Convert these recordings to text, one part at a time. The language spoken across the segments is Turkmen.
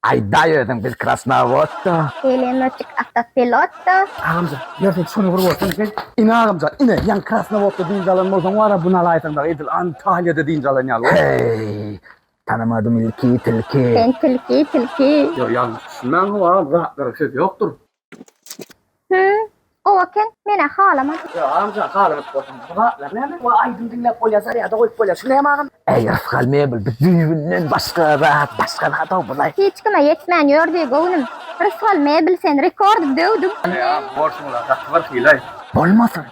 Aýdaý özüň biz krasnowodda. Pelemotik awtopilotda. Agamjan ýör sen şuny bir bolsaň sen ine agamjan ine ýaňy krasnowodda dynç alan bolsaň wara bu nalaýsaň dagy edil antaliýada dynç alan ýaly bol. Heý. Tanamadym ilki tilki. Sen tilki tilki. Ýok ýalňyş düşünmäňow agam zatlara söz ýokdur. Hü, gowy eken, men-ä halaman. Ýok, amja, haladyp bolsaň. Bu zatlar näme? Bu aýdym diňläp bolýar, zarýada goýup bolýar. Şu näme agam? Äý, rysgal mebel, biz düýbünden başga zat, başga zat-ow bulaý. Hiç kime ýetmän ýör diý, göwnüm. Rysgal mebel, sen rekordy döwdüň. Ine, borsuň-la, gaty bir hylaý. Bolmasyn!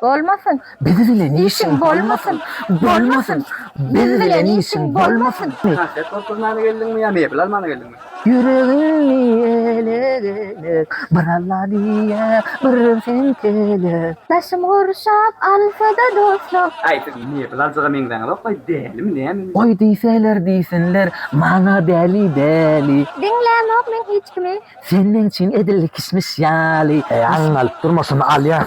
Bolmasyn. Biz bilen işiň bolmasyn. Bolmasyn. Biz bilen işiň bolmasyn. Konfet doldurmana geldiňmi ýa mebel almana geldiňmi? Ýüregimi elek-elek bir Alla diýýä, bir sen telek. Başym gurşap alsa-da dostlar. Aý, siz mebel aljyga meňzäňizok-laý, dälimi, nämemi? Goý diýseler diýsinler, maňa däli, däli. Diňlämok men hiç kimi. Sen meň üçin edil kişmiş ýaly. Alyň alyp durma şony alýas.